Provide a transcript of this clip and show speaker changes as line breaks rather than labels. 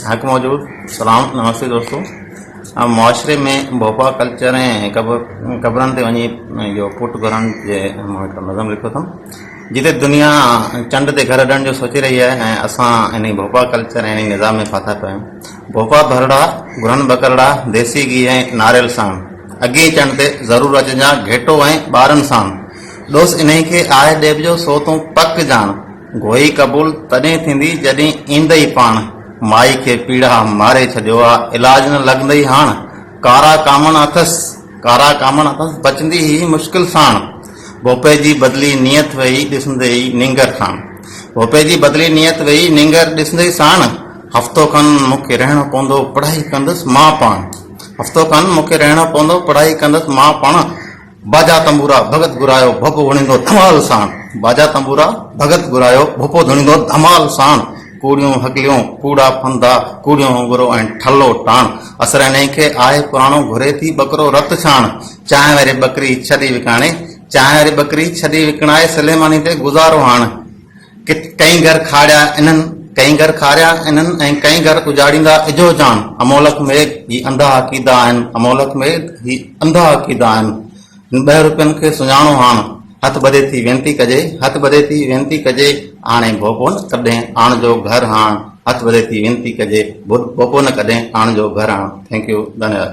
حق موجود سلام نمستي دوستو معاشري ۾ ڀوپا ڪلچر ۽ قبرن تي وڃي جو پٽ گهرڻ جي نظم لکيو اٿم جتي دنيا چنڊ تي گهر ڏيڻ جو سوچي رهي آهي ۽ اسان ان ڀوپا ڪلچر ۽ ان نظام ۾ ڦاٿا پيا آهيون ڀوپا ڀرڙا گهرن ٻڪرڙا ديسي گيهه ۽ ناريل ساڻ اڳئين چنڊ تي ضرور اچجان گهيٽو ۽ ٻارن ساڻ ڏوس انهي کي آهه ڏيبجو سو تون پڪ جاڻ گوئي قبول تڏهن ٿيندي جڏهن ايندئي پاڻ مائي کي پيڙها ماري ڇڏيو آ علاج نه لڳندئي هاڻ ڪارا ڪامڻ اٿس ڪارا ڪامڻ اٿس بچندي هي مشڪل ساڻ ڀوپي جي بدلي نيت ويئي ڏسندئي نينگر ساڻ ڀوپي جي بدلي نيت ويئي نينگر ڏسندئي ساڻ هفتو کن مون کي رهڻو پوندو پڙهائي ڪندس مان پاڻ هفتو کن مون کي رهڻو پوندو پڙهائي ڪندس مان پاڻ باجا تنبورا ڀڳت گهرايو ڀوپو ڌڻيندو ڌمال ساڻ باجا تنبورا ڀڳت گهرايو ڀوپو ڌڻيندو ڌمال ساڻ ڪوڙيون هڪليون ڪوڙا ڦندا ڪوڙيون هونگرو ۽ ٺلو ٽاڻ اسريني کي آهي پراڻو گهري ٿي ٻڪرو رت ڇاڻ چانهه واري ٻڪري ڇڏي وڪاڻي چانهه واري ٻڪري ڇڏي وڪڻائي سليماني تي گذارو هاڻ ڪٿ ڪئين گهر کاڙيا انهن، ڪئين گهر کاڙيا انهن ۽ ڪئين گهر اجاڙيندا اجهو جان، امولڪ ميگ هي انڌا عقيدا آهن امولڪ ميگ هي انڌا عقيدا آهن هن ٻه روپين کي سڃاڻو هاڻ هٿ ٻڌي ٿي وينتي ڪجي هٿ ٻڌي ٿي وينتي ڪجي هاڻي ڀوپو نه ڪڏهن آڻجو گهر هاڻ هٿ ٻڌي ٿي وينتي ڪجي ڀوپو نه ڪڏهن آڻجو گهر هاڻ ٿينڪ يو ڌنيواد.